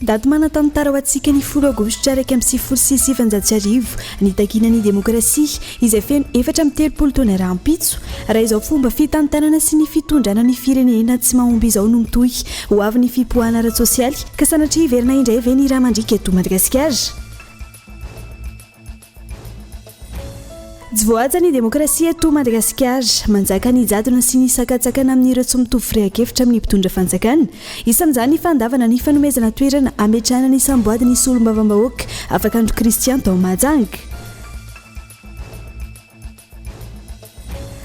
Daty manan-tantara ho antsika ny folo aogositra iraika amby sivifolo sy sivinjato sy arivo, nitakiana ny demokrasia, izay feno efatra amby telopolo taona rahampitso. Raha izao fomba fitantanana sy ny fitondrana ny firenena tsy mahomby izao no mitohy ho avy ny fipoahana ara-tsosialy, ka sanatria hiverina indray ve ny rà mandriaka eto Madagasikara? Tsy voahaja ny demokrasia eto Madagasikara. Manjaka ny jadona sy ny sakantsakana amin'ireo tsy mitovy firehan-kevitra amin'ny mpitondra fanjakana. Isan'izany ny fandavana ny fanomezana toerana hametrahana ny samboadin'ny solombavambahoaka Afakandro Christian tao Mahajanga.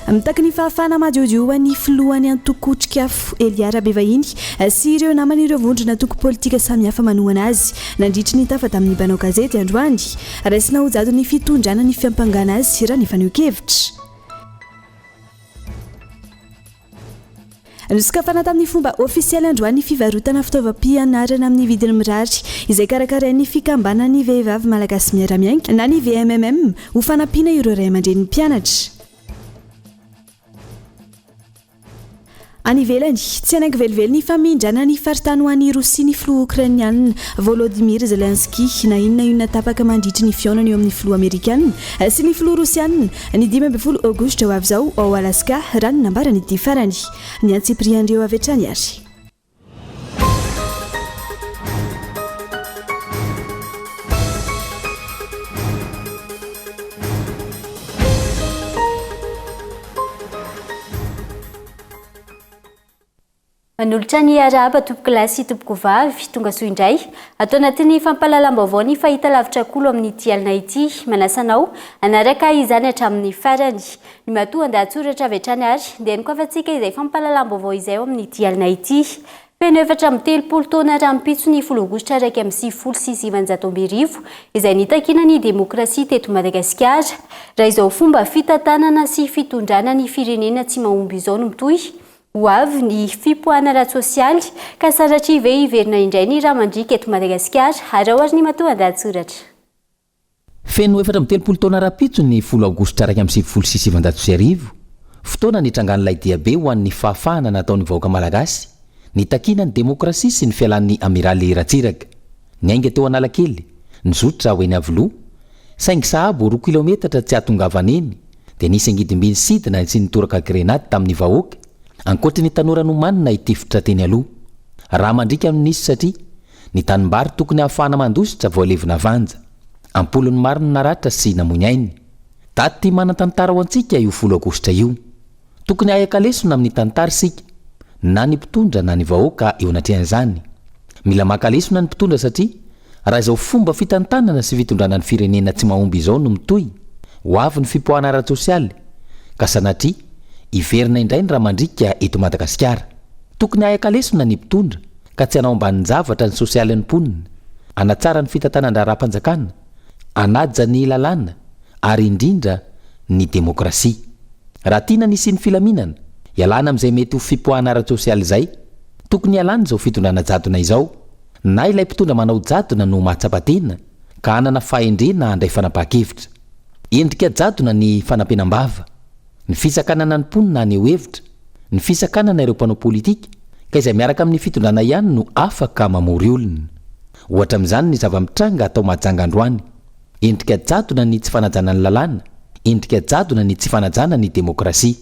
Mitaky ny fahafahana madiodio ho an'ny filohan'ny antoko Otrikafo, Elia Rabevahiny, sy ireo namany ireo vondron'antoko politika samihafa manohana azy nandritry ny tafa tamin'ny mpanao gazety androany. Raisina ho jadon'ny fitondrana ny fiampangana azy raha ny fanehoan-kevitra. Nosokafana tamin'ny fomba ofisialy androany ny fivarotana fitaovam-pianarana amin'ny vidiny mirary, izay karakarain'ny Fikambanan'ny Vehivavy Malagasy Miara-miainga na ny VMMM, ho fanampiana ireo ray aman-drenin'ny mpianatra. Any ivelany, tsy hanaiky velively ny famindrana ny faritany ho an'i Rosia ny filoha Okrainiana, Volodymyr Zelensky, na inona na inona tapaka mandritry ny fihaonana eo amin'ny filoha Amerikana sy ny filoha Rosiana, Ny dimy ambin'ny folo Aogositra ho avy izao ao Alaska, raha ny nambaran'ity farany. Ny antsipirihan'ireo avy hatrany ary. Manolotra ny arahaba tompokolahy sy tompokovavy, tongasoa indray. Ato anatin'ny fampahalalam-baovao ny fahitalavitra Kolo amin'ity alina ity. Manasa anao hanaraka izany hatramin'ny farany. Ny matoa andahatsoratra avy hatrany ary dia nokafantsika izay fampahalalam-baovao izay ao amin'ity alina ity. Feno efatra amby telopolo taona rahampitso ny folo aogositra iraika amby sivifolo sy sivinjato amby arivo izay nitakiana ny demokrasia teto Madagasikara. Raha izao fomba fitantanana sy fitondrana ny firenena tsy mahomby izao no mitohy Ho avy ny fipoahana ara-tsosialy ka sanatria ve hiverina indray ny rà mandriaka eto Madagasikara? Araho ary ny matoandahatsoratra. Feno efatra amby telopolo taona rahampitso ny folo aogositra iraika amby sivifolo sy sivinjato sy arivo, fotoana nitrangan'ilay diabe ho an'ny fahafahana nataon'ny vahoaka malagasy, nitakiana ny demokrasia sy ny fialan'ny Amiraly Ratsiraka. Niainga teo Analakely, nizotra ho eny Iavoloha, saingy sahabo roa kilaometatra tsy hahatongavana eny, dia nisy angidim-by nisidina sy nitoraka grenady tamin'ny vahoaka, ankoatry ny tanora nomanina hitifitra teny aloha. Rà mandriaka no nisy satria ny tanimbary tokony hahafahana mandositra voalevina vanja. Am-polony maro no naratra sy namoy ny ainy. Daty manan-tantara ho antsika io folo aogositra io. Tokony haheka lesona amin'ny tantara isika, na ny mpitondra na ny vahoaka eo anatrehan'izany. Mila maka lesona ny mpitondra satria raha izao fomba fitantanana sy fitondrana ny firenena tsy mahomby izao no mitohy, ho avy ny fipoahana ara-tsosialy, ka sanatria hiverina indray ny ramandriaka eto Madagasikara. Tokony haheka lesona ny mpitondra ka tsy hanao ambanin-javatra ny sosialin'ny mponina, hanatsara ny fitantanan-draharaham-panjakana, hanaja ny lalàna ary indrindra ny demokrasia. Raha tiana ny hisian'ny filaminana, hialana amin'izay mety ho fipoahana ara-tsosialy izay, tokony hialana izao fitondrana jadona izao, na ilay mpitondra manao jadona no mahatsapa tena ka hanana fahendrena handray fanapahan-kevitra. Endrika jadona ny fanapenam-bava, ny fisakanana ny mponina haneho hevitra, ny fisakanana ireo mpanao politika, ka izay miaraka amin'ny fitondrana ihany no afaka mamory olona. Ohatra amin'izany ny zava-mitranga ato Mahajanga androany. Endrika jadona ny tsy fanajana ny lalàna, endrika jadona ny tsy fanajana ny demokrasia.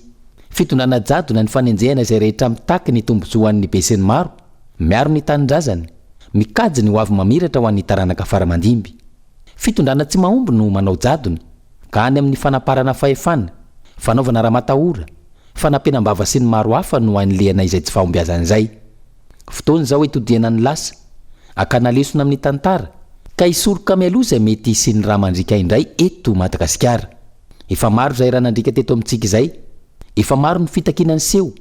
Fitondrana jadona ny fanenjehana izay rehetra mitaky ny tombontsoa ho an'ny besinimaro, miaro ny tanindrazany, mikajy ny hoavy mamiratra ho an'ny taranaka faramandimby. Fitondrana tsy mahomby no manao jadona, ka any amin'ny fanaparana fahefana, fanaovana ramatahora, fanampenam-bava sy ny maro hafa no anilihana izay tsy fahombiazana izay. Fotoana izao hitodihana ny lasa, hakana lesona amin'ny tantara, ka hisoroka mialoha izay mety hisian'ny rà mandriaka indray eto Madagasikara. Efa maro izay rà nandriaka teto amintsika izay. Efa maro ny fitakiana niseho,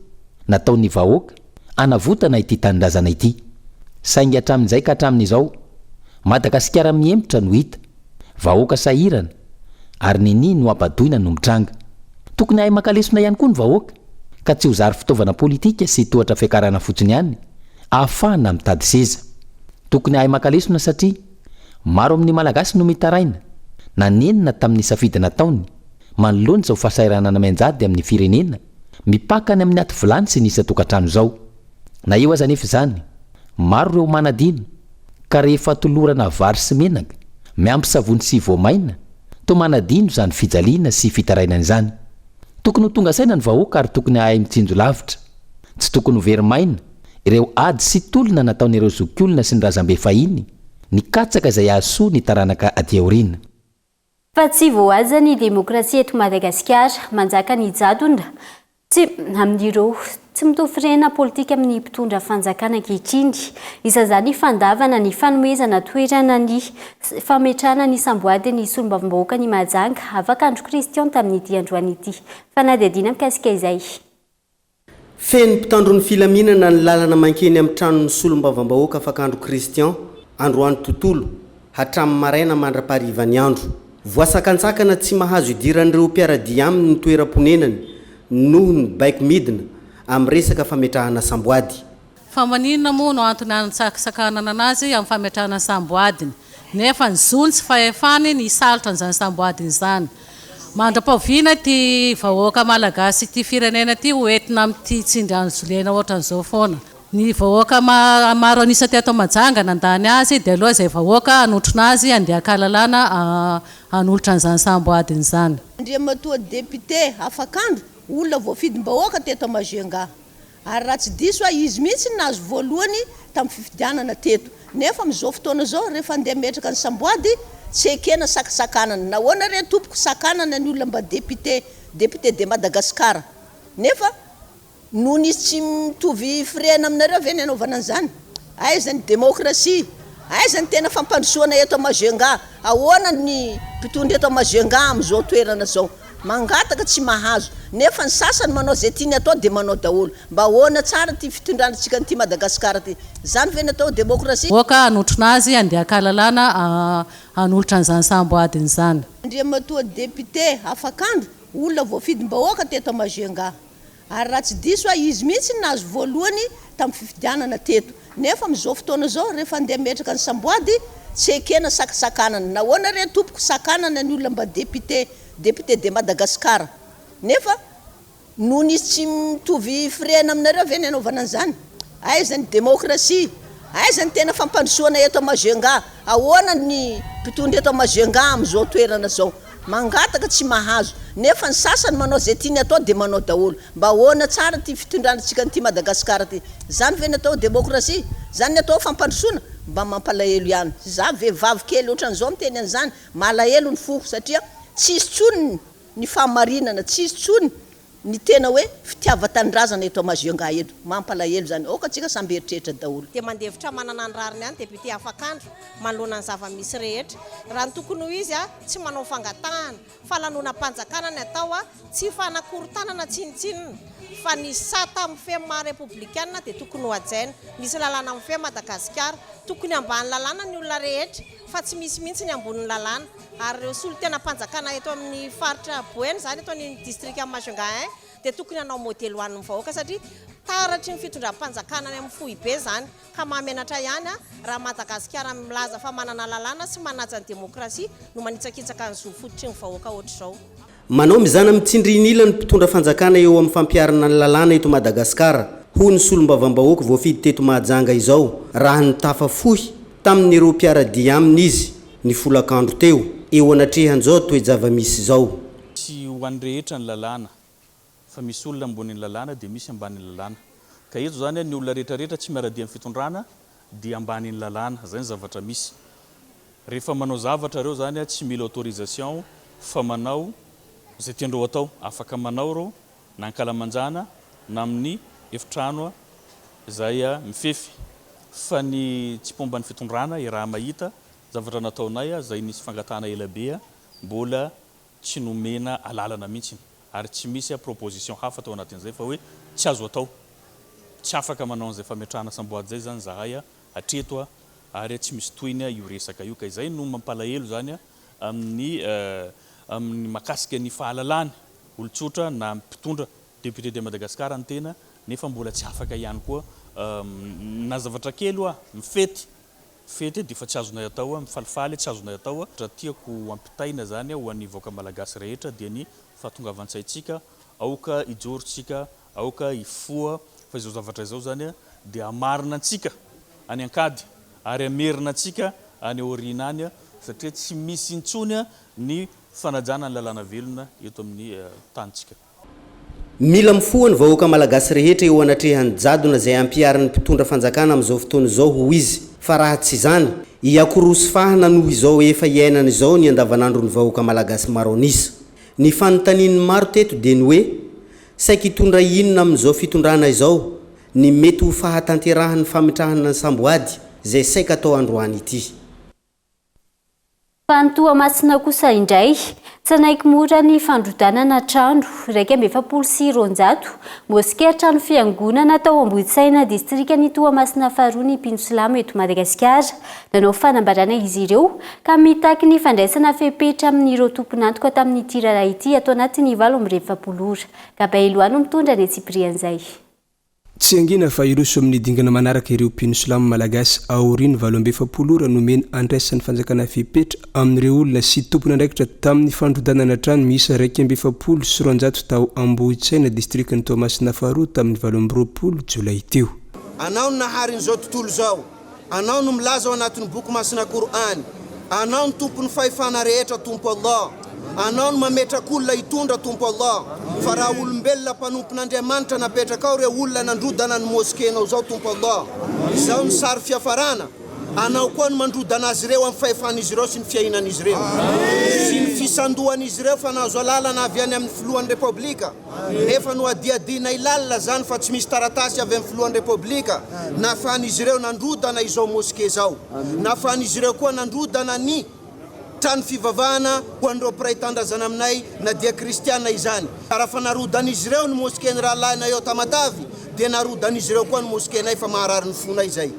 nataon'ny vahoaka, hanavotana ity tanindrazana ity. Saingy hatramin'izay ka hatramin'izao, Madagasikara mihemotra no hita. Vahoaka sahirana ary nini no ampadoina no mitranga. Tokony hahay maka lesona ihany koa ny vahoaka ka tsy ho zary fitaovana politika sy tohatra fiakarana fotsiny ihany ahafahana mitady seza. Tokony hahay maka lesona satria maro amin'ny Malagasy no mitaraina na nenina tamin'ny safidy nataony manoloana izao fahasahiranana mianjady amin'ny firenena mipaka any amin'ny aty vilany sy ny isan-tokantrano izao. Na eo aza anefa izany, Maro ireo manadino, ka rehefa tolorana vary sy menaka, miampy savony sy voamaina, toa manadino izany fijaliana sy fitarainana izany. Tokony ho tonga saina ny vahoaka ary tokony hahay mitsinjo lavitra. Tsy tokony ho very maina ireo ady sy tolona nataon'ireo zokiolona sy ny razambe fahiny, nikatsaka izay hahasoa ny taranaka aty aoriana. Fa tsy voahaja ny demokrasia eto Madagasikara. Manjaka ny jadona tsy amin'ireo tsy mitovy firehana politika amin'ny mpitondra fanjakana ankehitriny. Isan'izany fandavana ny fanomezana toerana ny fametrahana ny samboadin'ny solombavambahoaka ny Mahajanga Avakandro Christian tamin'ity androany ity. Fanadihadiana mikasika izay. Feno mpitandro ny filaminana ny lalana mankeny amin'ny tranon'ny solombavambahoaka Fakandro Christian, androany tontolo, hatramin'ny maraina mandra-paharivan'ny andro. Voasakantsakana tsy mahazo idiran'ireo mpiara-dia aminy ny toeram-ponenany noho ny baiko midina amin'ny resaka fametrahana samboady. Fa maninona moa no antony hanatsakananana azy amin'ny fametrahana ny samboadiny, nefa ny zony sy fahefany ny hisalotra an'izany samboadiny izany? Mandra-pahoviana ity vahoaka Malagasy ity firenena ity ho entina amin'ity tsindry anzolena ohatran'izao foana? Ny vahoaka maro an'isa teto Mahajanga nandany azy dia aloha izay vahoaka hanotrona azy handeha haka lalàna hanolotra an'izany samboadiny izany. Andriamatoa Depite Afakandro, olona voafidim-bahoaka teto Majunga. Ary raha tsy diso aho izy mihitsy no nahazo voalohany tamin'ny fifidianana teto. Nefa amin'izao fotoana izao rehefa handeha hametraka ny samboady, tsy ekena sakansakanana. Nahoana re tompoko sakanana ny olona mba député, député de Madagascar? Nefa noho izy tsy mitovy firehana aminareo ve ny hanaovana an'izany? Aiza ny demokrasia? Aiza ny tena fampandrosoana eto Majunga? Ahoana ny mpitondra eto Majunga amin'izao toerana izao? Mangataka tsy mahazo, nefa ny sasany manao izay tiany atao dia manao daholo. Mba ahoana tsara ity fitondrantsika an'ity Madagascar ity? Izany ve no atao demokrasia? Aoka hanotrona azy andian-kahalalana hanolotra an'izany sambo adiny izany. Andriamatoa Député Afakandro, olona voafidim-bahoaka teto Majunga. Ary raha tsy diso aho izy mihitsy no nahazo voalohany tamin'ny fifidianana teto. Nefa amin'izao fotoana izao rehefa handeha hametraka ny samboady tsy ekena sakasakanana. Nahoana re tompoko sakanana ny olona mba député, député de Madagascar. Nefa noho ny izy tsy mitovy firehana aminareo ve ny hanaovana an'izany? Aiza ny demokrasia? Aiza ny tena fampandrosoana eto Majunga? Ahoana ny mpitondra eto Majunga amin'izao toerana izao? Mangataka tsy mahazo, nefa ny sasany manao izay tiany atao dia manao daholo. Mba ahoana tsara ity fitondrana antsika an'ity Madagasikara ity? Izany ve ny atao demokrasia? Izany ny atao fampandrosoana? Mba mampalahelo ihany. Izaho vehivavy kely ohatran'izao miteny an'izany, malahelo ny foko satria tsisy intsony ny fahamarinana, tsisy intsony Ny tena hoe fitiavan-tanindrazana eto Amazionga eto. Mampalahelo izany. Aoka antsika samy hieritreritra daholo. Dia mandefitra manana ny rariny any député afakandro manoloana ny zava-misy rehetra. Raha ny tokony ho izy, tsy manao fangatahana, fa lanonam-panjakana ny atao, tsy fanakorontanana tsinontsinona, fa ny sata amin'ny fe maha repoblikanina dia tokony hohajaina. Misy lalàna amin'ny fe Madagasikara. Tokony ambany lalàna ny olona rehetra, fa tsy misy mihitsy ny ambonin'ny lalàna. Ary ireo solontenam-panjakana eto amin'ny faritra Boeny izany, eto amin'ny distrikan'i Majunga I, dia tokony hanao modely ho an'ny vahoaka satria taratry ny fitondram-panjakana any amin'ny foibe izany. Ka mahamenatra ihany raha Madagasikara milaza fa manana lalàna sy manaja ny demokrasia no manitsakitsaka ny zo fototry ny vahoaka hoatr'izao. Manao mizana amin'ny tsindrin'ila ny mpitondra fanjakana eo amin'ny fampiharana ny lalàna eto Madagasikara, hoy ny solombavambahoaka voafidy teto Mahajanga izao, raha nitafa fohy tamin'ireo mpiara-dia aminy izy, ny folakandro teo, eo anatrehan'izao toe-javamisy izao. Tsy ho an'ny rehetra ny lalàna. fa misy olona ambonin'ny lalàna dia misy ambanin'ny lalàna ka eto izany ny olona rehetra rehetra tsy miara-dia amin'ny fitondrana dia ambanin'ny lalàna, izay ny zavatra misy, rehefa manao zavatra ireo izany tsy mila autorisation fa manao izay tiandreo atao, afaka manao ireo na ankalamanjana na amin'ny efitrano izay mifefy fa ny tsy mpomba ny fitondrana raha mahita zavatra nataonay izay nisy fangatahana elabe mbola tsy nomena alalana mihitsy ary tsy misy proposition hafa tao anatin'izay fa hoe tsy azo atao, tsy afaka manao an'izay fametrahana samboady izay izany izahay hatreto ary tsy misy tohiny io resaka io ka izay no mampalahelo izany amin'ny amin'ny makasika ny fahalalany olon-tsotra na mpitondra député de Madagascar ny tena nefa mbola tsy afaka ihany koa na zavatra kely hoa mifety fety dia efa tsy azonay atao hoe mifalifaly, tsy azonay atao hoe ohatra tiako hampitaina izany ho an'ny vahoaka malagasy rehetra dia ny fahatongavan-tsaintsika, aoka hijoro isika, aoka hifoha fa izao zavatra izao izany dia hamarina antsika any an-kady ary hamerina antsika any aoriana any satria tsy misy intsony ny fanajana ny lalàna velona eto amin'ny tanintsika. Mila mifoha ny vahoaka malagasy rehetra eo anatrehan'ny jadona izay ampiharin'ny mpitondra fanjakana amin'izao fotoana izao hoy izy fa raha tsy izany, hiakorosy fahana noho izao efa iainana izao ny andavanandron'ny vahoaka malagasy maro an'isa. Ny fanontanian'ny maro teto dia ny hoe, saiky hitondra inona amin'izao fitondrana izao ny mety ho fahatanterahan'ny famitrahana ny samboady izay saika atao androany ity? Fa ny Toamasina kosa indray, tsy hanaiky mora ny fandrodanana trano iraika amby efapolo sy roanjato moskea, trano fiangonana, tao Ambohitsaina, distrikan'i Toamasina faharoa ny mpino silamo eto Madagasikara. Nanao fanambarana izy ireo ka mitaky ny fandraisana fepetra amin'ireo tompon'antoka tamin'ity raharaha ity ato anatin'ny valo amby efapolo ora. Gabaelo Ano mitondra ny antsipirihan'izay. Tsy hangina fa hiroso amin'ny dingana manaraka ireo mpino silamo malagasy aorian'ny valo amby efapolo ora nomena andraisan'ny fanjakana fepetra amin'ireo olona sy tompon'andraikitra tamin'ny fandrodanana trano miisa iraika amby efapolo sy roanjato tao Ambohitsaina, distrikan'i Toamasina faharoa tamin'ny valo amby roapolo jolay teo. Anao ny naharin'izao tontolo izao. Anao no milaza ao anatin'ny boky masina Kor'any, Anao no Tompon'ny fahefana rehetra Tompo Allah, Anao no mametraka olona hitondra Tompo Allah, fa raha olombelona mpanompon'Andriamanitra napetraka ao ireo olona nandrodana ny Mosquenao zao Tompo Allah, izao no sary fiafarana, Anao koa no mandrodana azy ireo amin'ny fahefan'izy ireo sy ny fiainan'izy ireo sy ny fisandohan'izy ireo fa nahazo alalana avy any amin'ny Filohan'ny Repoblika. Efa nohadihadianay lalina izany fa tsy misy taratasy avy amin'ny Filohan'ny Repoblika nahafahan'izy ireo nandrodana izao moske izao. Nahafahan'izy ireo koa nandrodana ny trano fivavahana ho an'ireo mpiray tandrazana aminay na dia kristiana izany. Raha fa narodan'izy ireo ny mosken'ny rahalahinay ao Tamatave dia narodan'izy ireo koa ny moskenay fa maharary ny fonay izay.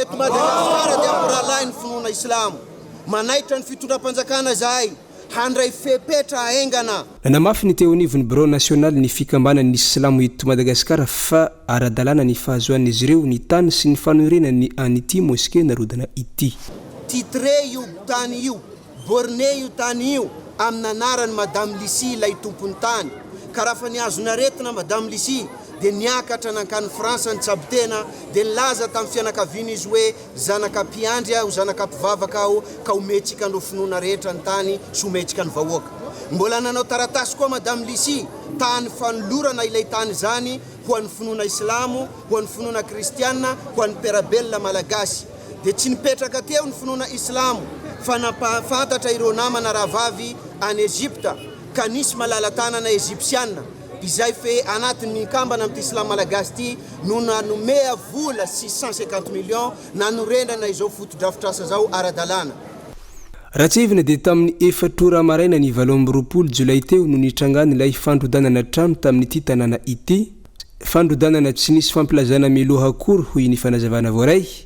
Eto Madagasikara dia ampy rahalahy ny finoana silamo. Manaitra ny fitondram-panjakana izahay. handray fepetra haingana. Nanamafy ny teo anivon'ny birao nasionaly ny fikambanan' ny silamo eto Madagasikara fa ara-dalàna ny fahazoan'izy ireo ny tany sy ny fanorenany an' ity moske narodana ity. Titre io tany io, borne io tany io amina anaran'i Madame Lucie ilay tompon'ny tany, ka raha fa nihazona aretina Madame Lucie dia niakatra nankany France nitsabo tena dia nilaza tamin'ny fianakavian'izy hoe, Zanaka mpiandry aho, zanaka mpivavaka aho, ka homentsika an'ireo finoana rehetra ny tany sy homentsika ny vahoaka. Mbola nanao taratasy koa Madame Lissi, tany fanolorana ilay tany izany ho an'ny finoana islamo, ho an'ny finoana kristiana, ho an'ny mpiara-belona malagasy. Dia tsy nipetraka teo ny finoana islamo, fa nampahafantatra ireo namana rahavavy any Egypta, ka nisy malala-tanana Egypsiana, izay fe anatin'ny kambana amin'ity slam malagasy ity no nanome vola sy cent cinquante millions nanorenana izao fotodrafitrasa izao ara-dalàna. Ratsirivina dia tamin'ny efatra ora maraina ny valo amby roapolo jolay teo no nitrangan'ilay fandrodanana trano tamin'ity tanàna ity, fandrodanana tsy nisy fampilazana mialoha akory hoy ny fanazavana voaray.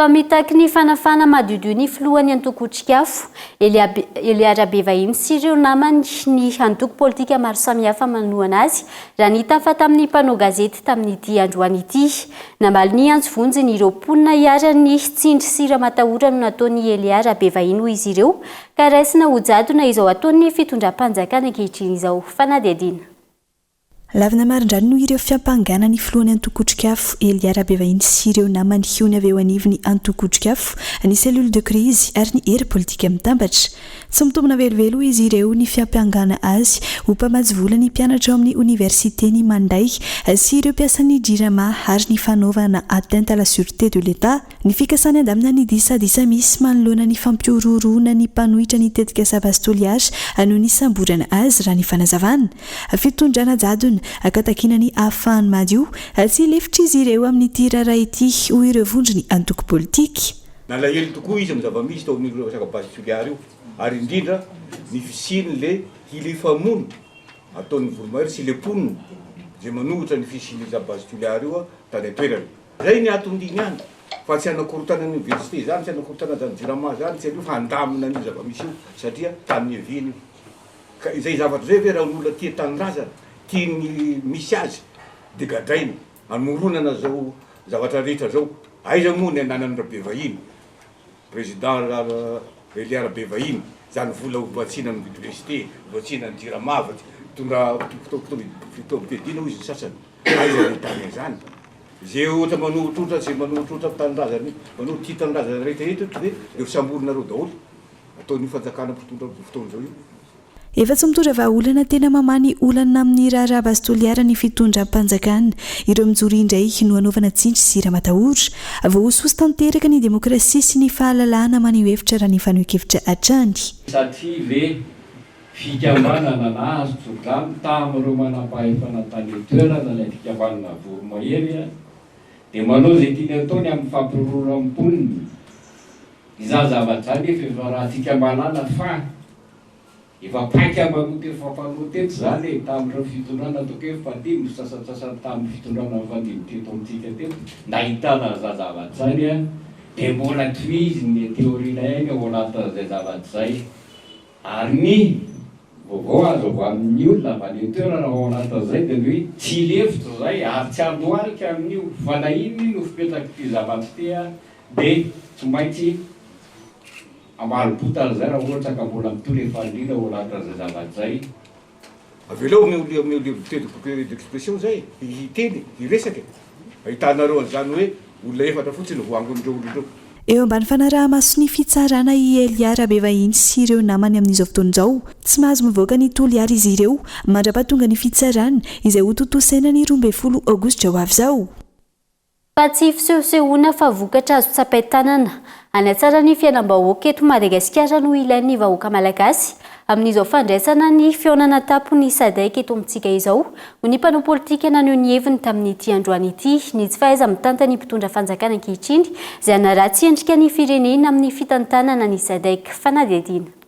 Fa mitaky ny fanafahana madiodio ny filohan'ny antoko Otrikafo, Eliab Elia Rabevahiny sy ireo namany ny antoko politika maro samihafa manohana azy, raha nitafa tamin'ny mpanao gazety tamin'ity androany ity. Namaly ny antso vonjiny ireo mponina iharan'ny tsindry sy ramatahora no nataon'i Elia Rabevahiny hoy izy ireo ka raisina ho jadona izao ataon'ny fitondram-panjakana ankehitriny izao. Fanadihadiana. Lavina marindrano noho ireo fiampangana ny filohan'ny antoko Otrikafo, Elia Rabevahiny sy ireo namany hiony avy eo anivon'ny antoko Otrikafo, ny cellule de crise ary ny hery politika mitambatra. Tsy mitombina velively hoy izy ireo ny fiampangana azy ho mpamatsy vola ny mpianatra ao amin'ny oniversiten'i Mandray sy ireo mpiasan'ny Jirama ary ny fanaovana atteinte à la sûreté de l'Etat. Ny fikasany handamina ny disadisa misy manoloana ny fampihorohoroana ny mpanohitra ny tetikasa Vazo Toliara noho ny hisamborana azy, raha ny fanazavana. Fitondrana jadona, ka takiana ny hahafahany madio tsy hilefitra izy ireo amin'ity raharaha ity, hoy ireo vondron'ny antoko politika. Nalahelo tokoa izy amin'ny zava-misy tao amin'io resaka Vazo Toliara io, ary indrindra ny fisian'ilay hilifamoana ataon'ny voromahery sy ilay mponina izay manohitra ny fisian'io zava-bazo Toliara io tany an-toerana. Zay ny atondy ihany fa tsy hanakorontana an'io VST zany, tsy hanakorontana zany Jirama zany, tsy aleo fa handamina an'io zava-misy io satria tany niaviany io. Ka izay zavatra izay ve raha ny olona tia tanindrazana, tia ny misy azy dia gadraina, hamoronana zao zavatra rehetra zao. Aiza moa ny ananan'i Rabevahiny, Président Relia Rabevahiny, zany vola hobatsiana amidy VST, hobatsiana an'i Jirama, mitondra fotoam-piadiana hoy izy ny sasany. Aiza no ahitana izany? Ze ohatra manohitrotra ze manohitrotra ny tanindrazany manohitra ity tanindrazana rehetra eto de eo samborinareo daholo ataon'io fanjakana mpitondra amzao fotoana zao io. Efa tsy mitondra vahaolana tena mamaha ny olana amin'ny raharaha base toliara ny fitondram-panjakana. Ireo mijoro indray no hanaovana tsindry sy ramatahora. Voahosohoso tanteraka ny demokrasia sy ny fahalalahana maneho hevitra raha ny fanohen-kevitra hatrany. Satria ve. Fikambanana nahazo tso-drano tamin'ireo manampahefana tany an-toerana ilay fikambanana voromahery dia manao izay tiany atao ny amin'ny fampihorohoran'ny mponina. Izany zavatra izany nefa efa raha fikambanana fa efa paika maloto efa fanao teto izany e, tamin'ireo fitondrana ataoko hoe fahadimy, ny sasantsasany tamin'ny fitondrana fahadimy teto amintsika teto nahitana an'izany zavatra izany dia mbola tohiziny ny aty aoriana ihany ao anatin'izay zavatra izay. Ary ny vaovao azo avy amin' ny olona avy any an-toerana ao anaty azy izay dia ny hoe, Tsy lefitra izay ary tsy handohalika amin' io, fa na inona io no fipetrak' ity zava-tsy tea dia tsy maintsy ambalim-potana izay raha ohatra ka mbola mitory fahaliana ao anatin' izay zava-tsy izay Avelao ny olona amin'ny liberté d'expression izay hiteny, hiresaka e! Ahitanareo an'izany hoe olona efatra fotsiny no voaangon'ireo olona ireo. Eo ambany fanaraha-mason'ny fitsarana i Elia Rabevahiny sy ireo namany amin'izao fotoana izao. Tsy mahazo mivoaka ny Toliara izy ireo mandra-pahatongan'ny fitsarana izay hotontosaina ny roa ambin'ny folo aogositra ho avy izao. Fa tsy fisehosehoana fa vokatra azo tsapain-tanana. Hanatsara ny fiainam-bahoaka eto Madagasikara no ilain'ny vahoaka malagasy amin'izao fandraisana ny fihaonana tampon'ny Sadec eto amintsika izao, hoy ny mpanao politika naneho ny heviny tamin'ity androany ity. Ny tsy fahaiza-mitantan'ny mpitondra fanjakana ankehitriny izay hanaratsy endrika ny firenena amin'ny fitantanana ny Sadec. Fanadihadiana.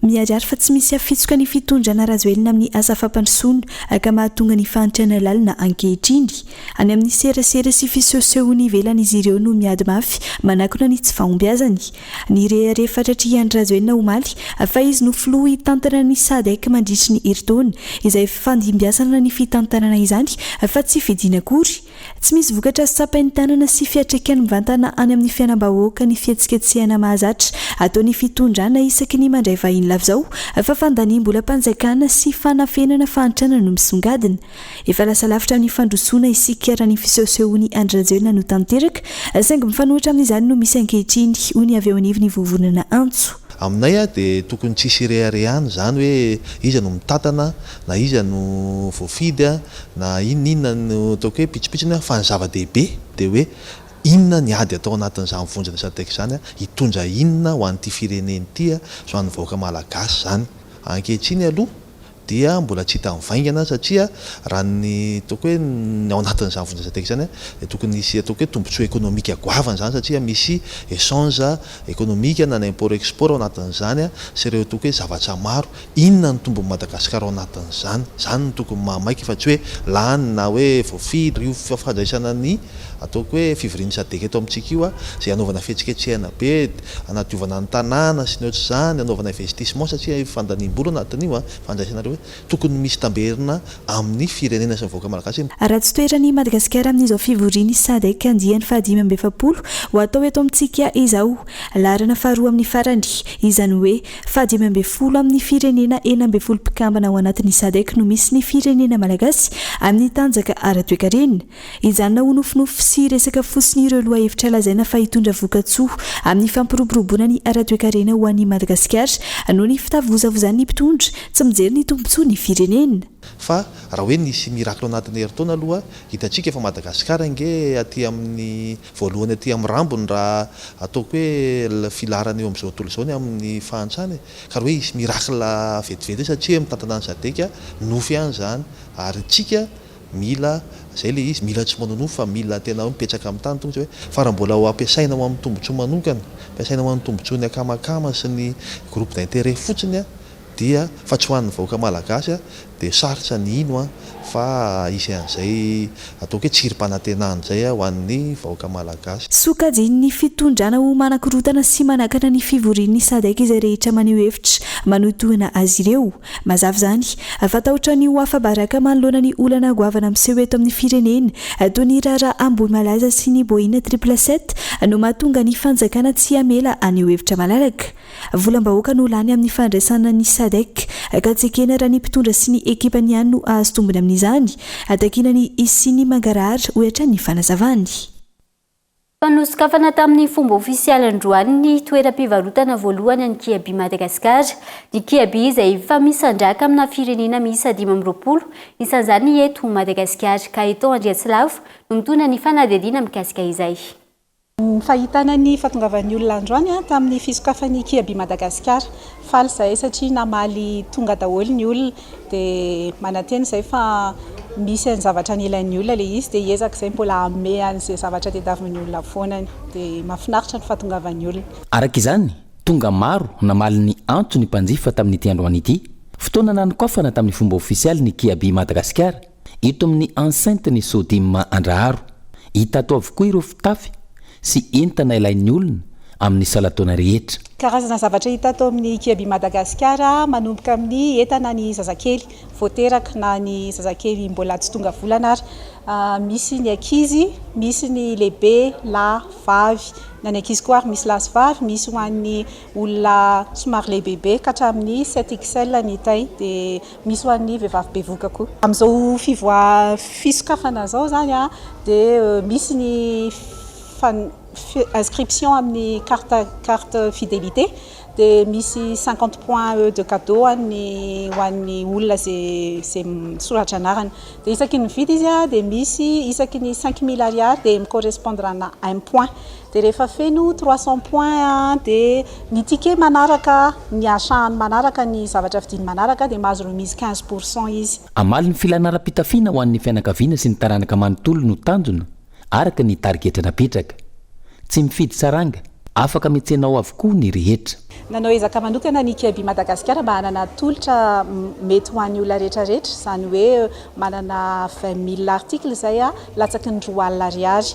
Miharihary fa tsy misy hafitsoka ny fitondrana Rajoelina amin'ny asa fampandrosoana ka mahatonga ny fahantrana lalina ankehitriny. Any amin'ny serasera sy fisehosehoana ivelany izy ireo no miady mafy manakona ny tsy fahombiazany. Nirehareha fatratra i Andry Rajoelina omaly fa izy no filoha hitantana ny Sadec mandritry ny herintaona izay fifandimbiasana ny fitantanana izany fa tsy fidiana akory. Tsy misy vokatra sampain-tanana sy fiatraikan'ny mivantana any amin'ny fiainam-bahoaka ny fihetsiketsehana mahazatra ataon'ny fitondrana isaky ny mandray vahiny lava izao fa fandaniam-bolam-panjakana sy fanafenana fahantrana no misongadina. Efa lasa lavitra amin'ny fandrosoana isika raha ny fisehosehoan'i Andry Rajoelina no tanteraka saingy mifanohitra amin'izany no misy ankehitriny, hoy ny avy eo anivon'ny vovonana antso. Aminay dia tokony tsisy ireharehana izany hoe iza no mitantana Na iza no voafidy na inona inona no ataoko hoe pitsopitsony fa ny zava-dehibe dia hoe inona ny ady atao anatin'izany vondrona sadec izany, hitondra inona ho an'ity firenena ity sy ho an'ny vahoaka malagasy izany. Ankehitriny aloha dia mbola tsy hita mivaingana satria raha ny ataoko hoe ny ao anatin'izany vondrona sadec izany dia tokony hisy ataoko hoe tombontsoa ekonomika goavana izany satria misy echange ekonomika na ny import export ao anatin'izany sy ireo ataoko hoe zavatra maro Inona no tombon'i Madagasikara ao anatin'izany? Izany no tokony mahamaika fa tsy hoe lany na hoe voafidy io fandraisana ny ataoko hoe fivorian'ny sadec eto amintsika io izay hanaovana fihetsiketsehana be, hanadiovana ny tanàna sy ny ohatr'izany, hanaovana investissement satria io fandaniam-bola anatin'io fandraisana ireo hoe tokony misy tamberina amin'ny firenena sy ny vahoaka malagasy. Raha tsy toeran'i Madagasikara amin'izao fivorian'ny sadec andiany fahadimy amby efapolo ho atao eto amintsika izao, laharana faharoa amin'ny farany, izany hoe Fahadimy ambin'ny folo amin'ny firenena enina ambin'ny folo mpikambana ao anatin'ny Sadec no misy ny firenena malagasy amin'ny tanjaka ara-toekarena. Hijanona ho nofinofy sy resaka fotsiny ireo lohahevitra lazaina fa hitondra vokatsoa amin'ny fampiroboroboana ny ara-toekarena ho an'i Madagasikara noho ny fitavozavozan'ny mpitondra tsy mijery ny tombontsoa ny firenena. Fa raha hoe nisy miracle anatin'ny herintaona aloha, hitantsika fa Madagasikara ange aty amin'ny Voalohany aty amin'ny rambony raha ataoko hoe le filaharana eo amin'izao tontolo izao ny amin'ny fahantrana e! Ka raha hoe hisy miracle vetivety hoe satria hoe mitantana an'i Sadec nofy ihany izany ary isika mila izay le izy mila tsy manonofy fa mila tena hoe mipetraka amin'ny tany tonga izay hoe fa raha mbola ho ampiasaina ho amin'ny tombotsoa manokana, ampiasaina ho an'ny tombotsoan'ny akamakama sy ny groupe d'interet fotsiny dia fa tsy ho an'ny vahoaka malagasy a dia sarotra ny hino a fa hisy an'izay ataoko hoe tsirim-panantenana izay a ho an'ny vahoaka malagasy. Sokajin'ny fitondrana ho manakorontana sy manakana ny fivorian'ny Sadec izay rehetra maneho hevitra manohitohina azy ireo. Mazava izany fa tahotra ny ho afa-baraka manoloana ny olana goavana miseho eto amin'ny firenena toy ny raharaha Ambohimalaza sy ny Boina Triple Sept no mahatonga ny fanjakana tsy hamela haneho hevitra malalaka Volam-bahoaka no lany amin'ny fandraisana ny Sadec ka tsy ekena raha ny mpitondra sy ny ekipany ihany no hahazo tombony amin'izany, hatakiana ny hisian'ny mangarahara, hoy hatrany ny fanazavany. Efa nosokafana tamin'ny fomba ofisialy androany ny toeram-pivarotana voalohany an'ny Kiabi Madagascar, ny Kiabi izay mifamisandraka amina firenena miisa dimy amby roapolo, isan'izany eto Madagasikara, ka i Tom Andriatsilavo no mitondra ny fanadihadiana mikasika izay. Ny fahitana ny fahatongavan'ny olona androany tamin'ny fisokafan'ny Kiabi Madagasikara. Faly izahay satria namaly tonga daholo ny olona dia manantena izay fa misy an'ny zavatra nilain'ny olona ilay izy dia hiezaka izay mbola hanome an'izay zavatra tadiavin'ny olona foana ny. Dia mahafinaritra ny fahatongavan'ny olona. Araka izany, tonga maro namaly ny antso ny mpanjifa tamin'ity androany ity. Fotoana nanokafana tamin'ny fomba ofisialy ny Kiabi Madagasikara Eto amin'ny enceinte ny Sodim Andraharo, hita ato avokoa ireo fitafy sy entana ilain'ny olona amin'ny salan-taona rehetra. Karazana zavatra hita ato amin'ny Kiabi Madagascar, manomboka amin'ny entana ny zazakely vao teraka na ny zazakely mbola tsy tonga volana ary. Misy ny ankizy, misy ny lehibe lahy, vavy. Na ny ankizy koa ary misy lahy sy vavy, misy ho an'ny olona somary lehibebe ka hatramin'ny sept XL ny taille dia. Misy ho an'ny vehivavy bevoka koa. Amin'izao fivoa fisokafana izao izany dia misy ny inscription amin'ny carte carte fidelite dia misy cinquante points de cadeau any ho an'ny olona izay misoratra anarana. Dia isaky ny mividy izy dia misy isaky ny cinq mille ariary dia mi-correspondre ana un point Dia rehefa feno trois cents points an, dia ny ticket manaraka, ny achat-ny manaraka, ny zavatra vidiany manaraka, dia mahazo remise quinze pour cent izy. Hamaly ny filàna ara-pitafiana ho an'ny fianakaviana sy ny taranaka manontolo no tanjona, araka ny tarigetra napetraka. Tsy mifidy saranga, afaka mihetsena ao avokoa ny rehetra. Nanao ezaka manokana ny Kiabi Madagasikara mba hanana tolotra mety ho an'ny olona rehetrarehetra, izany hoe manana vingt mille articles izay latsaky ny roa alina ariary.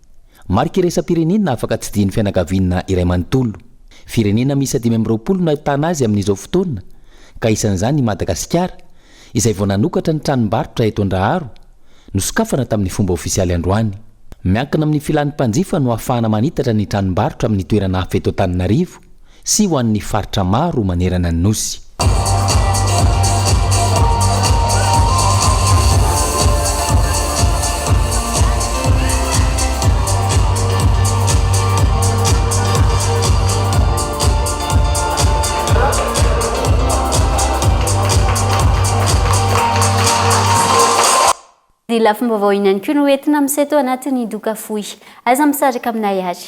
Marika iraisam-pirenena afaka tsidihin'ny fianakaviana iray manontolo. Firenena miisa dimy amby roapolo no ahitana azy amin'izao fotoana, ka isan'izany i Madagasikara, izay vao nanokatra ny tranombarotra eto Andraharo, nosokafana tamin'ny fomba ofisialy androany. Miankina amin'ny filan'ny mpanjifa no ahafahana manitatra ny tranombarotra amin'ny toerana hafa eto Antananarivo, sy ho an'ny faritra maro manerana ny Nosy. Ny lafim-baovao ihany koa no entina miseho tao anatin'ny doka fohy. Aza misaraka aminay ary.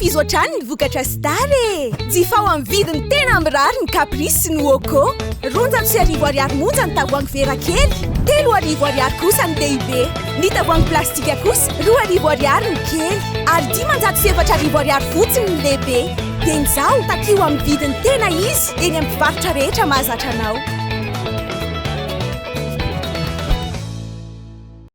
Ankafizo hatrany ny vokatra Star e! Jifao amin'ny vidiny tena mirary ny Caprice sy ny Woko. Roanjato sy arivo ariary monja ny tavoahangy vera kely, telo arivo ariary kosa ny lehibe. Ny tavoahangy plastika kosa, roa arivo ariary ny kely, ary dimanjato sy efatra arivo ariary fotsiny ny lehibe. Dia izao, takio amin'ny vidiny tena izy eny amin'ny mpivarotra rehetra mahazatra anao.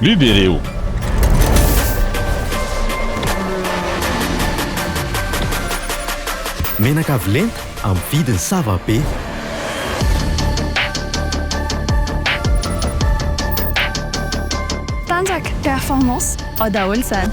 Libereo! Menaka avy lenta amin'ny vidiny sava be. Tanjaka, performance, ao daholo izany.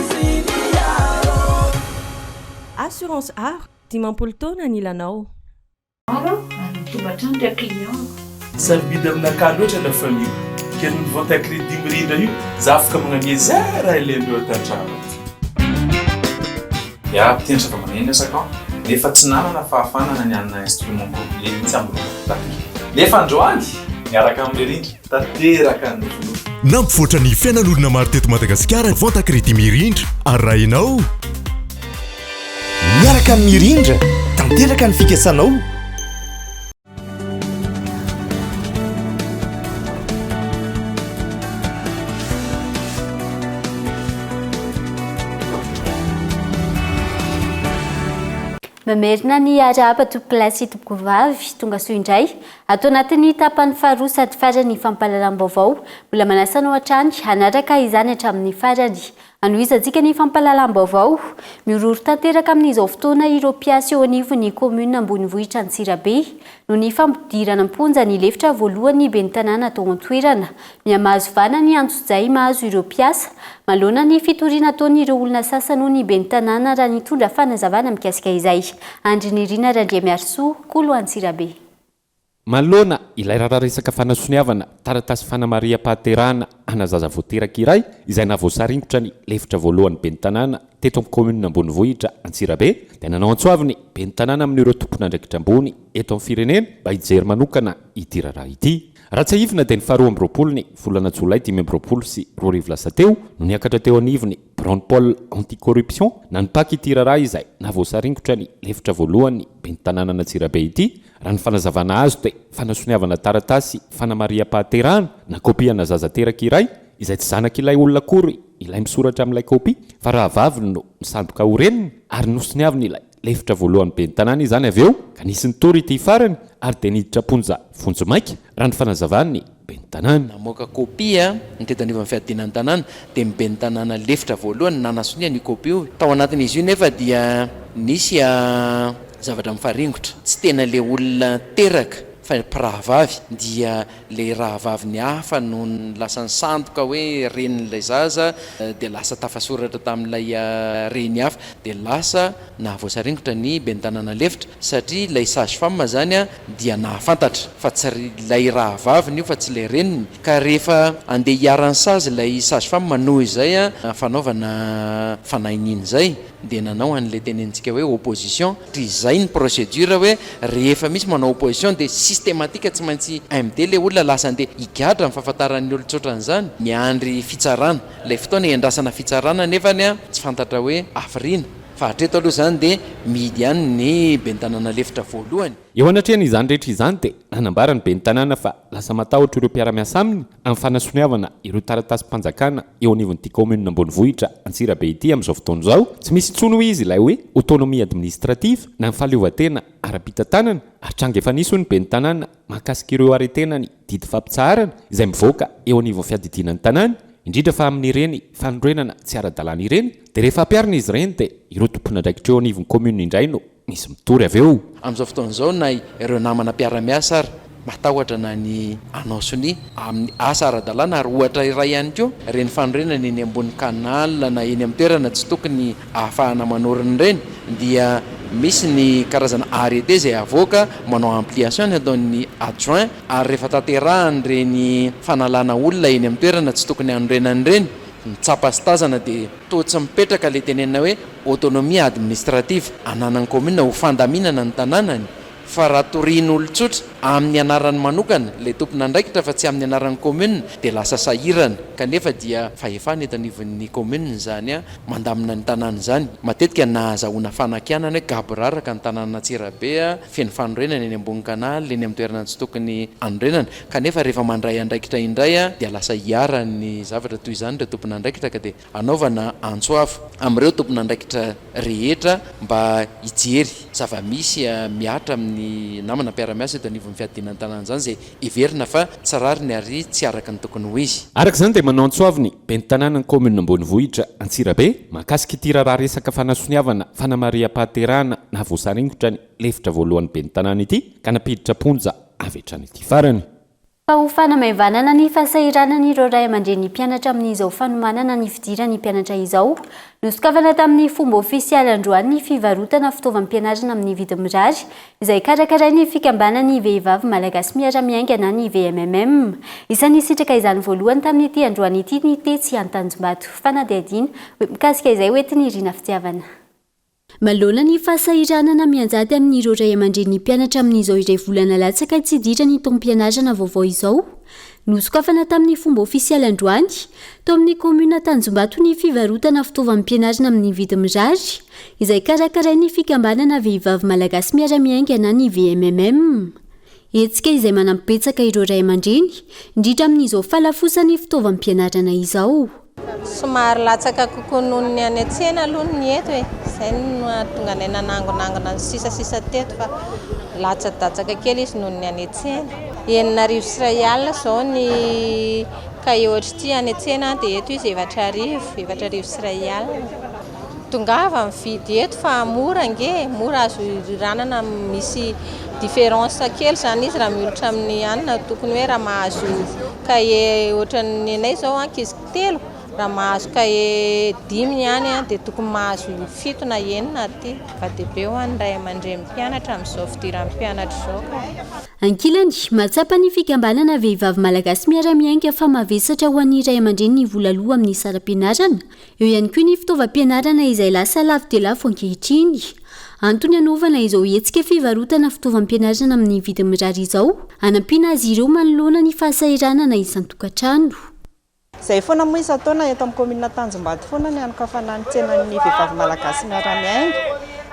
Assurance aro dimampolo taona ny lanao. Aro aho ary mitombo hatrany ra client-ko. Sarobidy aminakahy loatra la famille kely ny vente à crédit mirindra io za afaka magnamia za ra ilain dreo ato antrano ato. Iah mpiantraka maneno esak aho nefa tsy nanana fahafana na ny hanana instrument complet mihitsy amin ny vokatra tafikely nefa androany miaraka amin ny rindra. tanteraka ny filoha. Nampivoatra ny fiainan'olona maro teto Madagasikara ny vente à crédit Mirindra. Arahinao? Miaraka amin'ny Mirindra, tanteraka ny fikasanao. Mamerina ny arahaba tompokolahy sy tompokovavy, tongasoa indray, ato anatin'ny tapany faharoa sady faran'ny fampahalalam-baovao, mbola manasa anao hatrany hanaraka izany hatramin'ny farany. Anohizantsika ny fampahalalam-baovao, mihorohoro tanteraka amin'izao fotoana ireo mpiasa eo anivon'ny kaominina ambonivohitra Antsirabe, noho ny fampidirana am-ponja ny lefitra voalohan'ny ben'ny tanàna tao an-toerana, Mihamahazo vahana ny antsojay mahazo ireo mpiasa. Maloana ny fitoriana ataon'ireo olona sasany hoy ny ben'ny tanàna raha nitondra fanazavana mikasika izay. Andry Nirina Randriamiarisoa, Kolo Antsirabe. Maloana ilay raharaha resaka fanasoniavana taratasy fanamariham-pahaterahana ana zaza vao teraka iray izay naha voasaringotra ny lefitra voalohan'ny ben'ny tanàna teto amin'ny kaominina Ambonivohitra Antsirabe dia nanao antso avo ny ben'ny tanàna amin'ireo tompon'andraikitra ambony eto amin'ny firenena mba hijery manokana ity raharaha ity. Raha tsiahivina dia ny faharoa amby roapolo ny volana jolay dimy amby roapolo sy roa arivo lasa teo no niakatra teo anivon'ny biraon'ny Pôle Anti-Corruption na ny pac ity raharaha izay nahavoasaringotra ny lefitra voalohan'ny ben'ny tanànan'Antsirabe ity raha ny fanazavana azo dia fanasoniavana taratasy fanamarihampahaterahana nakôpiana zaza teraka iray izay tsy zanak'ilay olona akory ilay misoratra amin'ilay kôpia fa rahavaviny no misandoka ho reniny ary nosoniavin'ilay Lefitra voalohany ben'ny tanàna izany avy eo ka nisy nitory ity farany ary dia niditra am-ponja vonjimaika, raha ny fanazavan'ny ben'ny tanàna. Namoaka kopia ny tety anivon'ny fiadiana ny tanàna dia ny ben'ny tanàna lefitra voalohany nanasonia io kopia io. Tao anatin'izy io nefa dia nisy zavatra mifaringotra, tsy tena ilay olona teraka fa mpirahavavy dia. Ilay rahavaviny hafa nony lasa nisandoka hoe renin'ilay zaza dia lasa tafasoratra tamin'ilay reny hafa dia lasa nahavoasaringotra ny ben'ny tanàna lefitra satria ilay sage femme izany dia nahafantatra fa tsy ilay rahavaviny io fa tsy ilay reniny ka rehefa andeha hiharan'ny sazy ilay sage femme noho izay fanaovana fanahy niny izay dia nanao an'ilay tenenintsika hoe opposition dia izay ny procedure hoe rehefa misy manao opposition dia systematique tsy maintsy MD ilay olona lasa andeha higadra ny fahafantaran'ny olon-tsotra an'izany miandry fitsarana ilay fotoana hiandrasana fitsarana nefany a tsy fantatra hoe hafiriana fa hatreto aloha izany dia mihidy ihany ny ben'ny tanàna lefitra voalohany. Eo anatrehan'izany rehetra izany dia nanambara ny ben'ny tanàna fa Lasa matahotra ireo mpiara-miasa aminy amin'ny fanasoniavana ireo taratasim-panjakana eo anivon'ity kaominina ambonivohitra Antsirabe ity amin'izao fotoana izao. Tsy misy intsony hoy izy ilay hoe autonomie administrative na ny fahaleovantena ara-pitantanana ary tranga efa nisy hoy ny ben'ny tanàna mahakasika ireo arrêté-na ny didy fampitsaharana izay mivoaka eo anivon'ny fiadidiana ny tanàna indrindra fa amin'ireny fanorenana tsy ara-dalàna ireny dia rehefa ampiharina izy ireny dia ireo tompon'andraikitra eo anivon'ny commune indray no misy mitory avy eo. Amin'izao fotoana izao na ireo namana mpiara-miasa ary matahotra na ny hanao sonia amin'ny asa ara-dalàna ary ohatra iray ihany koa ireny fanorenana eny ambony canal na eny amin'ny toerana tsy tokony ahafahana manorina ireny dia misy ny karazana arrêté izay avoaka manao ampliation ny ataon'ny adjoint ary rehefa tanterahan'ireny fanalana olona eny amin'ny toerana tsy tokony hanorenana ireny ny tsapa sy tazana dia toa tsy mipetraka ilay tenenina hoe autonomie administrative, ananan'ny kaominina ho fandaminana ny tanànany, fa raha torian'olon-tsotra amin'ny anarany manokana ilay tompon'andraikitra fa tsy amin'ny anaran'ny kaominina dia lasa sahirana, kanefa dia fahefana eto anivon'ny kaominina izany mandamina ny tanàna izany. Matetika nahazahoana fanakianana hoe gaboraraka ny tanànan'Antsirabe, feno fanorenana eny ambony canal, eny amin'ny toerana tsy tokony hanorenana, kanefa rehefa mandray andraikitra indray dia lasa iharan'ny zavatra toy izany ireo tompon'andraikitra ka dia Hanaovana antso avo amin'ireo tompon'andraikitra rehetra mba hijery zava-misy mihatra amin'ny namana mpiara-miasa eto anivon'ny fiadiana ny tanàna izany izay heverina fa tsy rariny ary tsy araka ny tokony ho izy. Araka izany dia manao antso avo ny Ben'ny tanànan'ny kaominina Ambonivohitra Antsirabe mahakasika ity raharaha resaka fanasoniavana fanamariham-pahaterahana nahavoasaringotra ny lefitra voalohan'ny Ben'ny tanàna ity ka nampiditra am-ponja avy hatrany ity farany. fa ho fanamaivanana ny fahasahiranan'ireo ray aman-dreny ny mpianatra amin'izao fanomanana ny fidiran'ny mpianatra izao. Nosokafana tamin'ny fomba ofisialy androany ny fivarotana fitaovam-pianarana amin'ny vidiny mirary, izay karakarain'ny Fikambanan'ny Vehivavy Malagasy Miara-miainga na ny VMMM. Isan'ny nisitraka izany voalohany tamin'ity androany ity ny tetsy Antanjombato. Fanadihadiana mikasika izay hoentin'i Rina Fitiavana. Manoloana ny fahasahiranana mianjady amin'ireo ray aman-drenin'ny mpianatra amin'izao iray volana latsaka hitsidiran'ny taom-pianarana vaovao izao, nosokafana tamin'ny fomba ofisialy androany, tao amin'ny kaominina Tanjombato ny fivarotana fitaovam-pianarana amin'ny vidiny mirary, izay karakarain'ny fikambanana Vehivavy Malagasy Miara-miainga na ny VMMM. Hetsika izay manampy betsaka ireo ray aman-dreny indrindra amin'izao fahalafosan'ny fitaovam-pianarana izao. Somary latsaka kokoa noho ny any an-tsena aloha ny eto e, izay no nahatonga anay nanangonangona ny sisasisa teto fa latsadatsaka kely izy noho ny any an-tsena. Enina arivo sy iray alina izao ny kahie ohatr'ity any an-tsena dia eto izy efatra arivo, efatra arivo sy iray alina. Tongava mividy eto fa mora ange e! Mora azo iriranana misy différence kely izany izy raha mihoatra amin'ny any na tokony hoe raha mahazo cahier ohatran'ny anay izao ankizy telo raha mahazo cahier dimy ny any dia tokony mahazo fito na enina aty. Zava-dehibe ho an'ny ray aman-drenin'ny mpianatra amin'izao fidiran'ny mpianatra izao ka. Ankilany, mahatsapa ny fikambanana Vehivavy Malagasy Miara-miainga fa mavesatra ho an'ny ray aman-dreny ny vola aloa amin'ny saram-pianarana, Eo ihany koa ny fitaovam-pianarana izay lasa lafo dia lafo ankehitriny. Antony hanaovana izao hetsika fivarotana fitaovam-pianarana amin'ny vidiny mirary izao, hanampiana azy ireo manoloana ny fahasahiranana isan-tokantrano. Izay foana moa isan-taona eto amin'ny kaominina Antanjombato foana ny hanokafana ny tsenan'ny vehivavy malagasy miara-miainga,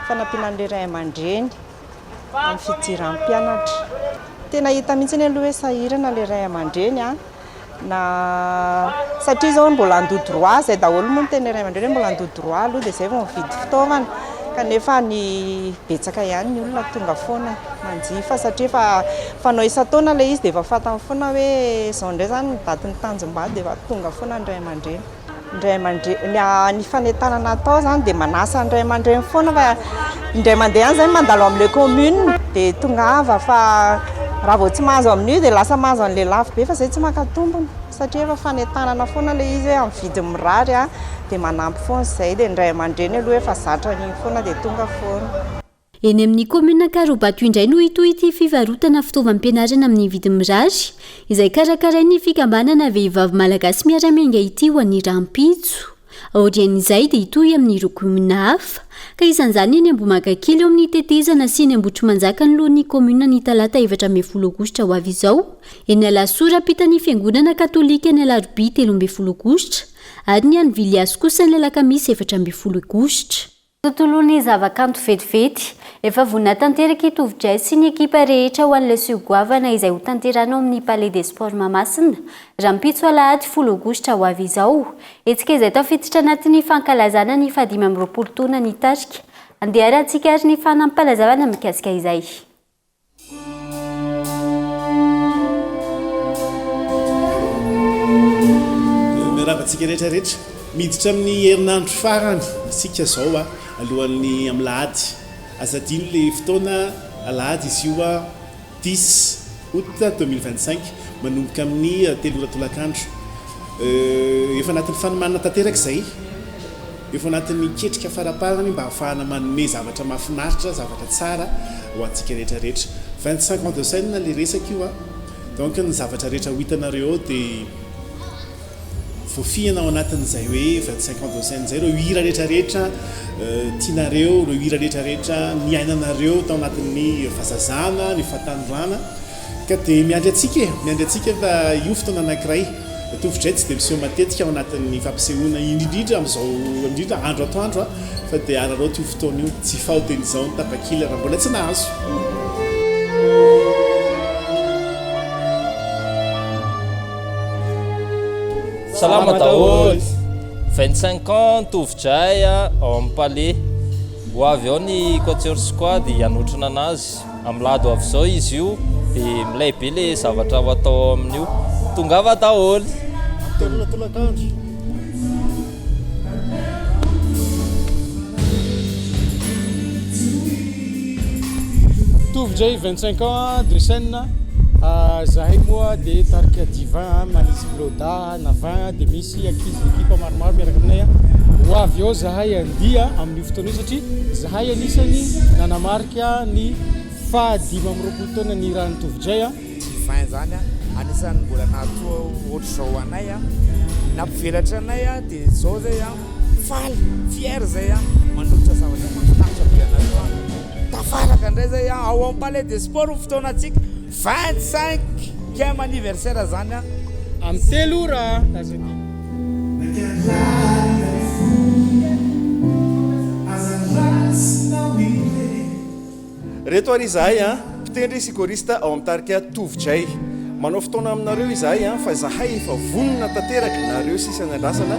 fanampiana an'ireo ray aman-dreny. amin'ny fidiran'ny mpianatra. Tena hita mihitsy anie aloha hoe sahirana ilay ray aman-dreny an, na satria izao mbola handoa droit, izay daholo moa ny tenin'ilay ray aman-dreny hoe mbola handoa droit aloha dia izay vao mividy fitaovana, kanefa ny betsaka ihany ny olona tonga foana manjifa satria efa fanao isan-taona ilay izy dia efa fantany foana hoe izao indray izany ny datin'ny tanjom-bady dia efa tonga foana ny ray aman-dreny. ny ray aman-dreny, ny fanentanana atao izany dia manasa ny ray aman-dreny foana fa indray mandeha any izay mandalo amin'ilay commune dia tongava fa raha vao tsy mahazo amin'io dia lasa mahazo an'ilay lafo be fa izay tsy maka tombony satria efa fanentanana foana ilay izy hoe amin'ny vidiny mirary dia manampy foana izay dia ny ray aman-dreny aloha efa zatra an'iny foana dia tonga foana. Eny amin'ny kaominina Ankaraobato indray no hitohy ity fivarotana fitaovam-pianarana amin'ny vidiny mirary, izay karakarain'ny fikambanana Vehivavy Malagasy Miara-Miainga ity ho an'ny rahampitso. Aorian'izay dia hitohy amin'ireo kaominina hafa, ka isan'izany eny Ambohimankakely eo amin'ny tetezana sy eny Ambohitrimanjaka anoloan'ny kaominina ny talata efatra ambin'ny folo aogositra ho avy izao, eny Alasora ampitan'ny fiangonana katolika ny alarobia telo ambin'ny folo aogositra ary ny any Viliasy kosa ny alakamisy efatra ambin'ny folo aogositra. Tontolon'ny zavakanto vetivety. Efa vonona tanteraka i Tovo Jazz sy ny ekipa rehetra ho an'ilay seho goavana izay hotanterahina ao amin'ny Palais des Sports Mahamasina, rahampitso alahady folo aogositra ho avy izao. Hetsika izay tafiditra anatin'ny fankalazana ny fahadimy amby roapolo taona ny tarika. Andeharantsika ary ny fanampalazavana mikasika izay. Miarahaba antsika rehetra rehetra. Miditra amin'ny herinandro farany isika izao alohan'ny amin'ny alahady. Aza adino ilay fotoana, alahady izy io, dix aout deux mille vingt cinq, manomboka amin'ny telo ora tolakandro. Efa anatin'ny fanomanana tanteraka izay. Efa anatin'ny ketrika faraparany mba hahafahana manome zavatra mahafinaritra, zavatra tsara ho antsika rehetra rehetra. Vingt cinq ans de scène ilay resaka io a! Donc ny zavatra rehetra ho hitanareo ao dia voafihana ao anatin'izay hoe vingt cinq ans de scène izay, ireo hira rehetra rehetra tianareo, ireo hira rehetra rehetra niainanareo tao anatin'ny fahazazana, ny fahatanorana. Ka dia miandry antsika e! Miandry antsika fa io fotoana anankiray tovozay tsy dia miseho matetika ao anatin'ny fampisehoana indrindra amin'izao indrindra andro atoandro a! Fa dia araraoty io fotoana io, tsy faotin'izao ny tapakila raha mbola tsy nahazo. Salama daholo! 25 ans ny tovozay ao amin'ny Palais. Ho avy ao ny Quatuor Squad hanotrona anazy. Amlado avy zao izy io de milay be le zavatra ho atao ao amin'io. Tongava daholo. Ampidirina tolakandro. Mitovy ndray 25 ans de scène ah, zahay moa de tarika divin ah, manisy blodda na vin ah, de misy ankizy ekipa maromaro miaraka aminay ah, ho avy ao zahay andia amin'io fotoana io satria zahay anisany nanamarika. Miatrika ny faha dimy amby roapolo taonany i Ranitovojay a. Ny vin izany a, anisan'ny mbola nahatoa ohatr'izao anay a, nampivelatra anay a, dia izao izay a, faly, fier izay a, manolotra zavatra mahafinaritra be anareo a. Tafaraka indray izay a, ao amin'ny Palais des Sports ny fotoanantsika. Vingt cinq ième anniversaire zany an! Am telo ora lasa ty. Nankahalala ry voly e, aza rasinao ireny. Reto ary izahay an, mpitendry sy choriste ao amin'ny tarika Tovo Jay. Manao fotoana aminareo izahay an, fa izahay efa vonona tanteraka nareo sisa niandrasana.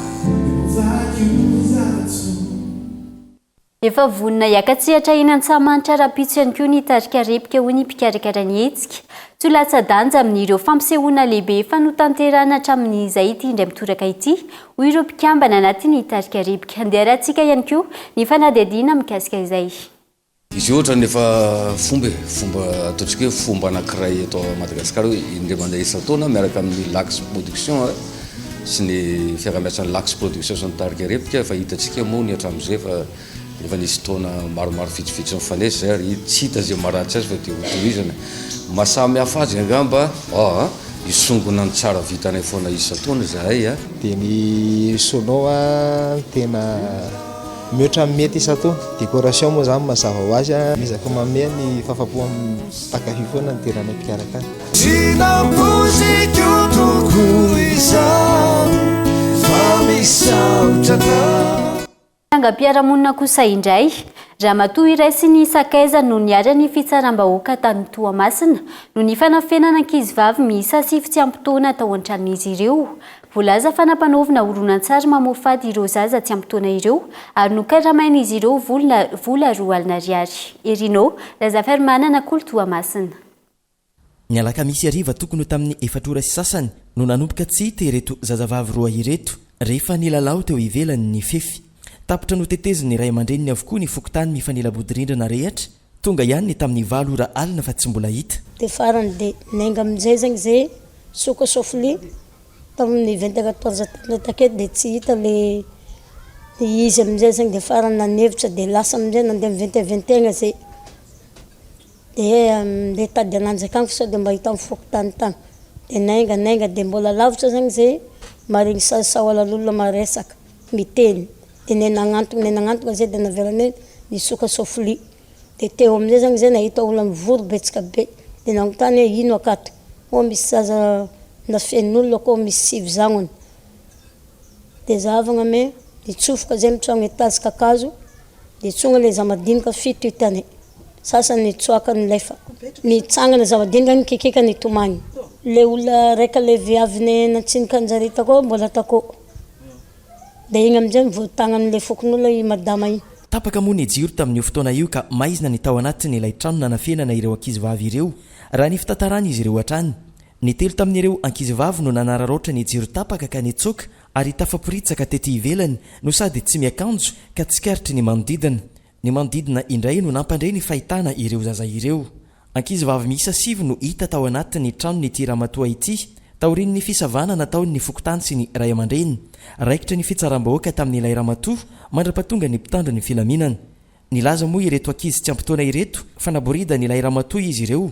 Efa vonona hiaka-tsehatra eny Antsahamanitra rahampitso ihany koa ny tarika Repika hoy ny mpikarakara ny hetsika. Toa latsa-danja amin'ireo fampisehoana lehibe efa notanterahina hatramin'izay ity indray mitoraka ity, hoy ireo mpikambana anatin'ny tarika Repika. Handeha arahintsika ihany koa ny fanadihadiana mikasika izay. Izy io ohatrany efa fomba e, fomba ataontsika hoe fomba anankiray eto Madagasikara hoe indray mandeha isan-taona miaraka amin'ny Lax Production sy ny fiaraha-miasan'ny Lax Production sy ny tarika Repoka efa hitantsika moa ny hatramin'izay fa efa nisy taona maromaro vitsivitsy nifanesy izay ary tsy hita izay maharatsy azy fa dia ho tohizana. Maha samy hafa azy angamba aa hisongona ny tsara vitanay foana isan-taona izahay a! Dia ny Sono a tena. Mihoatra ny mety isan-to. Décoration moa izany mazava ho azy an. Miezaka manome ny fahafapo mpankafy foana ny tenanay mpikarakara. Tsy nampoiziko tokoa izao fa misaotra anao. Trangam-piarahamonina kosa indray, ramatoa iray sy ny sakaizany no niary ny fitsaram-bahoaka tany Toamasina noho ny fanafenana ankizivavy miisa sivy tsy ampy taona tao an-tranon'izy ireo Voalaza fa nampanaovina horonantsary mamoafady ireo zaza tsy ampy taona ireo ary nokaramain'izy ireo vola vola roa alina ariary. Herino, Razafarimanana, Kolo Toamasina. Ny alakamisy hariva tokony ho tamin'ny efatra ora sy sasany no nanomboka tsy hita ireto zazavavy roa ireto rehefa nilalao teo ivelany ny fefy. Tapitra notetezin'ny ray aman-dreniny avokoa ny fokontany mifanila-bodirindrina rehetra Tonga ihany ny tamin'ny valo ora alina fa tsy mbola hita. Dia farany dia niainga amin'izay zegny zay soka sauf le tamin'ny vingt et quatorze tamin'izay takeo dia tsy hita le izy amin'izay zegny dia farany nanevitra dia lasa amin'izay nandeha ny vingt et vingt et un izay dia andeha hitady ananjy akany fa sao dia mba hita amin'ny fokontany tany dia niainga niainga dia mbola lavitra zegny zay maharegny sao sahalan'olona maresaka miteny. dia ny nagnantogna ny nagnantogna zay dia naveriny hoe nisoka sofily dia teo amizay zany zay nahita olona mivory betsaka be dia nanontany hoe ino akato ô misy zaza na feno olona akao misy sivy zagnona dia zahavana hoe nitsofoka zay ny tragno etazy kakazo dia tsonga le zamadinika fito hitany sasany nitsoaka nilefa nitsangana zamadinika nikikika nitomany le olona raika le viavy nantsinika anjareo takao mbola takao Dia iny amin'izay no voatagnan'ilay fokonolona i Madama iny. Tapaka moa ny jiro tamin'io fotoana io ka maizina ny tao anatin'ilay trano nanafenana ireo ankizivavy ireo, raha ny fitantaran'izy ireo hatrany. Ny telo tamin'ireo ankizivavy no nanararaotra ny jiro tapaka ka nitsoaka ary tafaporitsaka tety ivelany no sady tsy miakanjo ka tsikaritry ny manodidina. Ny manodidina indray no nampandre ny fahitana ireo zaza ireo. Ankizivavy miisa sivy no hita tao anatin'ny tranon'ity ramatoa ity, taorian'ny fisavana nataon'ny fokontany sy ny ray aman-dreny. Raikitra ny fitsaram-bahoaka tamin'ilay ramatoa mandra-pahatonga ny mpitandro ny filaminana. Nilaza moa ireto ankizy tsy ampy taona ireto fa naboridan'ilay ramatoa izy ireo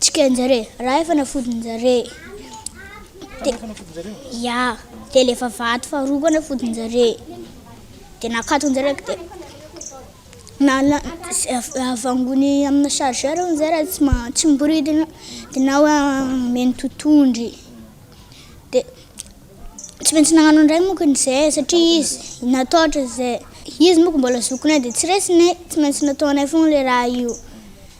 Tsikanjare raha efa nafodinjare ya de le vavahady faharoa koa nafodinjare de nakatonjare de nana avangony amina chargeur hono zay raha tsy ma- tsy miboridana de na hoe omeny totondry de tsy maintsy nagnano an'ireny moko izy zay satria izy nataotra zay izy moko mbola zokinay de tsy resinay tsy maintsy nataonay foana le raha io.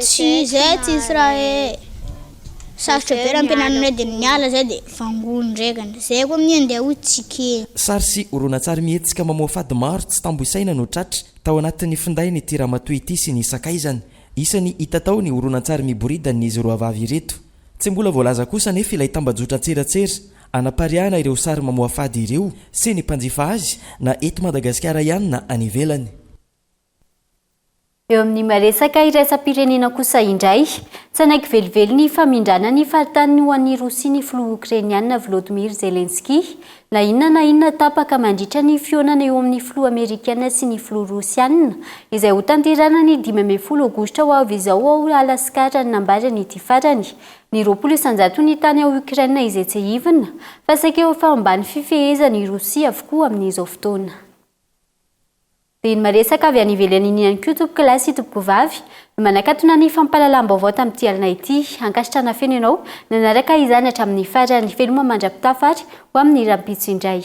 Tsy zay tsy hisy raha e. Sarotra be raha ampianarina indray dia miala zay dia vangoiny ndrekany. Zay koa minia ndeha ho tsikera. Sary sy horonantsary mihetsika mamoha fady maro tsy tambo isaina no tratra tao anatin'ny findain'ity ramatoa ity sy ny sakaizany. Isan'ny hita tao ny horonantsary miboridan'izy roa vavy ireto. Tsy mbola voalaza kosa anefa ilay tambajotran-tserasera anapariahana ireo sary mamoha fady ireo sy ny mpanjifa azy na eto Madagasikara ihany na any ivelany. Eo amin'ny maresaka iraisam-pirenena kosa indray, tsy hanaiky velively ny famindrana ny faritaniny ho an'i Rosia ny filoha Okrainiana Vladimir Zelensky, na inona na inona tapaka mandritra ny fihaonana eo amin'ny filoha Amerikana sy ny filoha Rosiana, izay hotanterahana ny dimy ambin'ny folo Aogositra ho avy izao ao Alaska, raha ny nambaran'ity farany. Ny roapolo isan-jaton'ny tany ao Ukraine izay tsiahivina fa saika efa ambany fifehezan'i Rosia avokoa amin'izao fotoana. Be ny maresaka avy any ivelany iny ihany koa tompoko lahy sy tompoko vavy no manakatona ny fampahalalam-baovao tamin'ity alina ity. Ankasitrahana feno ianao nanaraka izany hatramin'ny farany. Veloma mandra-pitafa ary ho amin'ny rahampitso indray.